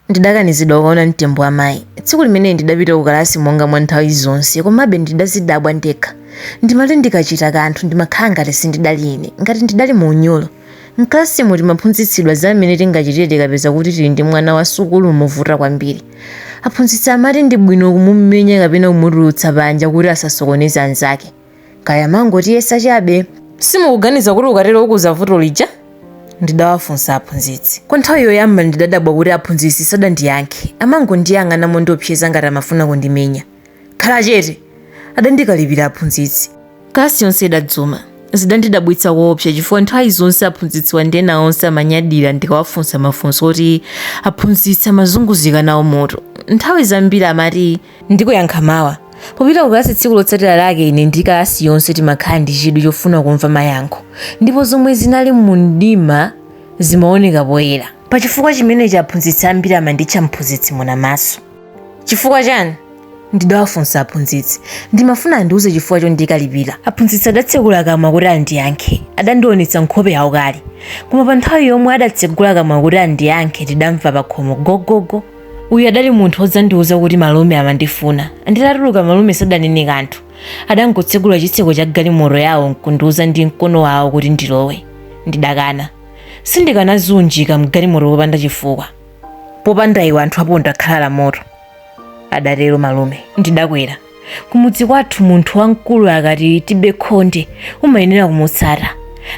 Ndidakanizidwa kukaona mtembo wa mayi. Tsiku limeneli ndidapita kukalasi monga mwa nthawi zonse, komabe ndidazidabwa ndekha. Ndimati ndikachita kanthu ndimakhala ngati sindidali ine, ngati ndidali mu unyolo. M'kalasimu timaphunzitsidwa za mmene tingachitire tikapeza kuti tili ndi mwana wa sukulu wovuta kwambiri. Aphunzitsi amati ndi bwino kumumenya kapena kumutulutsa panja kuti asasokoneze anzake. kaya amangotiyesa chabe simukuganiza kuti ukatero ukuza vuto lija ndidawafunsa aphunzitsi kwa nthawi yoyamba ndidadabwa kuti aphunzitsi sadandiyankhe amangondiyang'ana mondiopseza ngati amafuna kundimenya khala chete adandikalipira aphunzitsi kalasi yonse idadzuma zidandidabwitsa koopsa chifukwa nthawi zonse aphunzitsiwa ndi ena onse amanyadira ndikawafunsa mafunso oti aphunzitsi amazunguzika nawo mutu nthawi zambiri amati Ndikuyankha mawa. Popita kukalasi tsiku lotsatira lake ine ndi kalasi yonse timakhala ndi chidwi chofuna kumva mayankho, ndipo zomwe zinali mumdima zimaoneka poyera. Pa chifukwa chimenechi aphunzitsi ambiri amanditcha mphunzitsi Munamaso. Chifukwa chani? ndidawafunsa aphunzitsi. Ndimafuna andiuze chifukwa chondikalipira. Aphunzitsi adatsekula kamwa kuti andiyankhe. Adandionetsa nkhope yaukali. Koma panthawi yomwe adatsegula kamwa kuti andiyankhe tidamva pakhomo gogogo. uyu adali munthu odzandiuza kuti malume amandifuna nditatuluka malume sadanene kanthu adangotsegula chitseko cha galimoto yawo nkundiuza ndi mkono wawo kuti ndilowe ndidakana sindikanaziunjika mgalimoto popanda chifukwa popanda iwe anthu aponda khala la moto adatero malume ndidakwera kumudzi kwathu munthu wamkulu akati tibe khonde umayenera kumutsata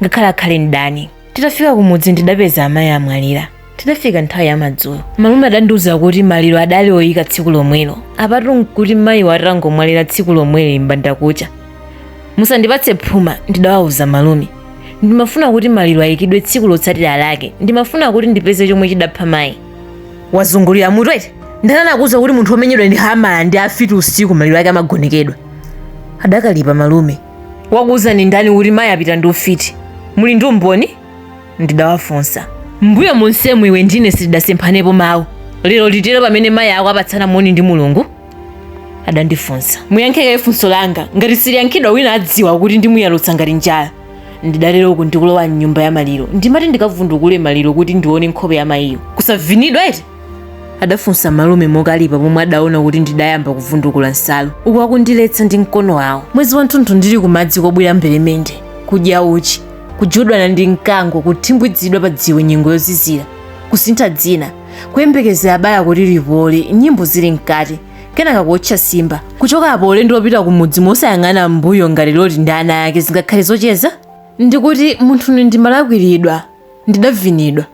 ngakhale akhale ndani titafika kumudzi ndidapeza amayi amwalira tidafika nthawi ya madzulo malume adandiuza kuti maliro adali oyika tsiku lomwelo apatu nkuti mayiwa atangomwalira tsiku lomweli mbandakucha musandipatse phuma ndidawauza malume ndimafuna kuti maliro ayikidwe tsiku lotsatira lake ndimafuna kuti ndipeze chomwe chidapha mayi wazungulira mutu eti ndani anakuuza kuti munthu womenyedwa ndi hamala ndi afiti usiku maliro ake amagonekedwa adakalipa malume wakuuzani ndani kuti mayi apita ndi ufiti muli ndi umboni ndidawafunsa mbuyo monsemu iwe ndi ine sitidasemphanepo mawu lero litero pamene mayi ako apatsana moni ndi mulungu adandifunsa muyankhe kaye funso langa ngati siliyankhidwa wina adziwa kuti ndimuyalutsa ngati njala ndidatero uku ndikulowa mnyumba ya maliro ndimati ndikavundukule maliro kuti ndione nkhope ya mayiyo kusavinidwa eti adafunsa malume mokalipa pomwe adaona kuti ndidayamba kuvundukula nsalu uku akundiletsa ndi mkono wawo mwezi wanthunthu ndili kumadzi kubwira mberemende kudya uchi kujudwana ndi mkango kuthimbwidzidwa pa dziwe nyengo yozizira kusintha dzina kuyembekezera bala kuti lipole nyimbo zili mkati kenaka kuotcha simba kuchoka apo ulendo wopita kumudzi mosayang'ana mbuyo ngati loti ndi ana ake zingakhale zocheza ndikuti munthune ndimalakwiridwa ndidavinidwa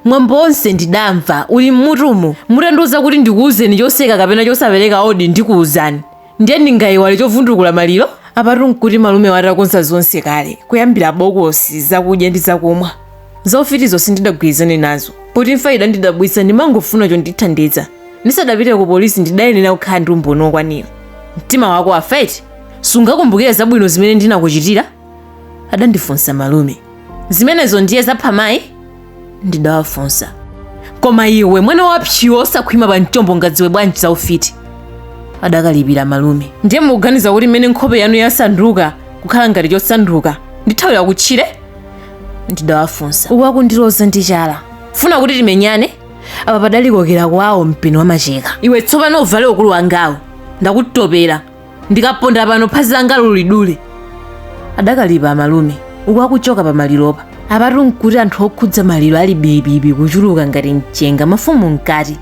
Mwambo wonse ndidamva uli m'mutumu, mutandiuza kuti ndikuuzeni choseka kapena chosapereka odi ndikuuzani. Ndiye ndingaiwale chovundukula maliro? Apatu nkuti malumewo atakonza zonse kale, kuyambira bokosi, zakudya ndi zakumwa. Za ufitizo sindidagwirizane nazo. Poti imfa idandidabwitsa ndimangofuna chondithandiza. Ndisadapite kupolisi ndidayenera kukhala ndi umboni wokwanira. Mtima wako wafa eti? Sungakumbukire zabwino zimene ndinakuchitira? adandifunsa malume zimenezo ndiye zapha mayi ndidawafunsa koma iwe mwana wapchi wosakhwima pa mchombo ungadziwe bwanji za ufiti adakalipira malume ndiye mukuganiza kuti mmene nkhope yanu yasanduka kukhala ngati chosanduka ndithawira kutchire ndidawafunsa uku akundiloza ndi chala funa kuti timenyane apa padali kokera kwawo mpeni wamacheka iwe tsopano uvale ukulu wangawo ndakutopera ndikaponda pano phazi langa ulidule adakalipa amalume uku akuchoka pa maliropa apatu nkuti anthu okhudza maliro ali bibibi kuchuluka ngati mchenga mafumu mkati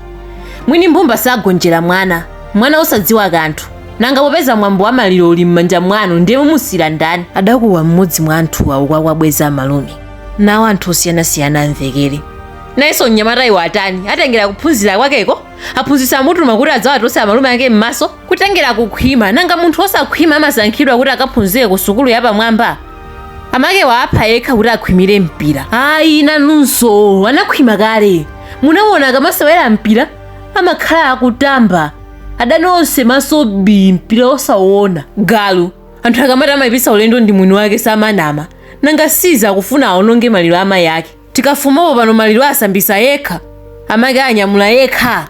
mwini mbumba sagonjera mwana mwana osadziwa kanthu nanga popeza mwambo wa maliro uli m'manja mwanu ndiye mumusiyira ndani adakuwa mmodzi mwa anthuwa uku akuwabweza amalume nawo anthu osiyanasiyana amvekere nayenso mnyamatayu watani watengera kuphunzira kwakeko aphunzitsi amutuma kuti adzawatose amalume ake m'maso kutengera kukhwima nanga munthu wosakhwima amasankhidwa kuti akaphunzire ku sukulu yapamwamba amake waapha yekha kuti akhwimire mpira ayi nanunso anakhwima kale munaona akamasewera mpira amakhala akutamba adani onse maso bi mpira osawona galu anthu akamati amayipitsa ulendo ndi mwini wake samanama nanga si izi akufuna aononge maliro a mayi ake tikafumapo pano maliro asambisa yekha amake anyamula yekha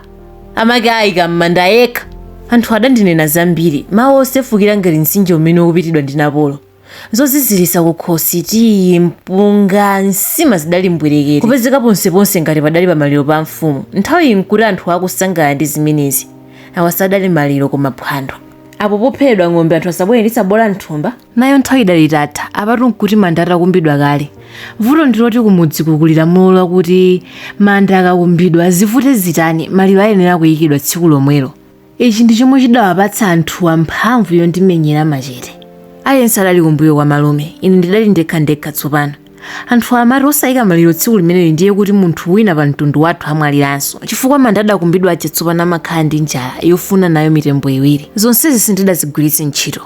amake ayika m'manda yekha anthu adandinena zambiri mawu osefukira ngati mtsinje umene ukupitidwa ndi napolo zoziziritsa kukhosi tiyi mpunga nsima zidali mbwerekere kupezeka ponseponse ngati padali pa maliro pa mfumu nthawiyi nkuti anthu akusangala ndi zimenezi awa sadali maliro koma phwando apo pophedwa ng'ombe anthu asabwere ndi tsabola mthumba Nayo nthawi idali itatha, apatu n'kuti manda atakumbidwa kale. Vuto ndi loti kumudziku kuli lamulo lakuti manda akakumbidwa, zivute zitani, maliro ayenera kuikidwa tsiku lomwelo. Ichi ndi chomwe chidawapatsa anthuwa mphamvu yondimenyera machete. Aliyense adali kumbuyo kwa malume, ine ndidali ndekhandekha tsopano. Anthuwa amati osaika maliro tsiku limeneli ndiye kuti munthu wina pa mtundu wathu amwaliranso, chifukwa manda adakumbidwa aja tsopano amakhala ndi njala yofuna nayo mitembo iwiri. Zonsezi sindidazigwiritse ntchito.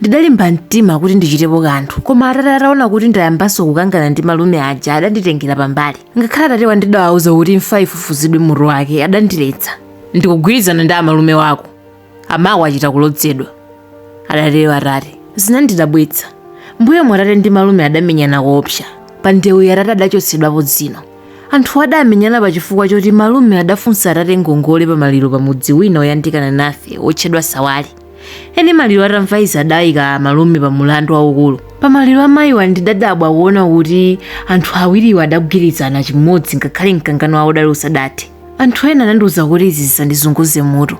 Ndidalimba mtima kuti ndichitepo kanthu, koma atate ataona kuti ndayambanso kukangana ndi malume aja adanditengera pambali. Ngakhale atatewa ndidawauza kuti imfa ifufuzidwe mutu wake, adandiletsa. Ndikugwirizana ndi amalume wako. Amako achita kulodzedwa, adatero atate. Zinandidabwitsa. Mbuyomu atate ndi malume adamenyana koopsa. Pa ndewuyi atate adachotsedwapo dzino. Anthuwa adamenyana pa chifukwa choti malume adafunsa atate ngongole pa maliro pa mudzi wina woyandikana nafe wotchedwa Sawali. eni maliro atamva izi adayika malume pa mulandu waukulu pa maliro a mayiwa ndidadabwa kuona kuti anthu awiriwa adagwirizana chimodzi ngakhale mkangano wawo udali usadathe anthu ena anandiwuza kuti izi zisandizunguze mutu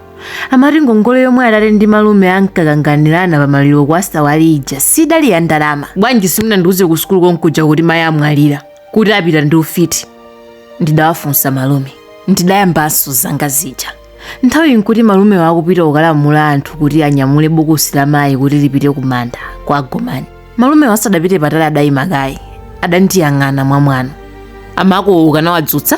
amati ngongole yomwe atate ndi malume ankakanganirana pa maliro kwa sawali ija sidali ya ndalama bwanji simunandiwuze ku sukulu konkuja kuti mayi amwalira kuti apita ndi ufiti ndidawafunsa malume ndidayambanso zanga zija nthawiyi nkuti malumewa akupita kukalamula anthu kuti anyamule bokosi la mayi kuti lipite ku manda kwa gomani malumewo asadapite patali adayima kaye adandiyang'ana mwamwano amako ukanawadzutsa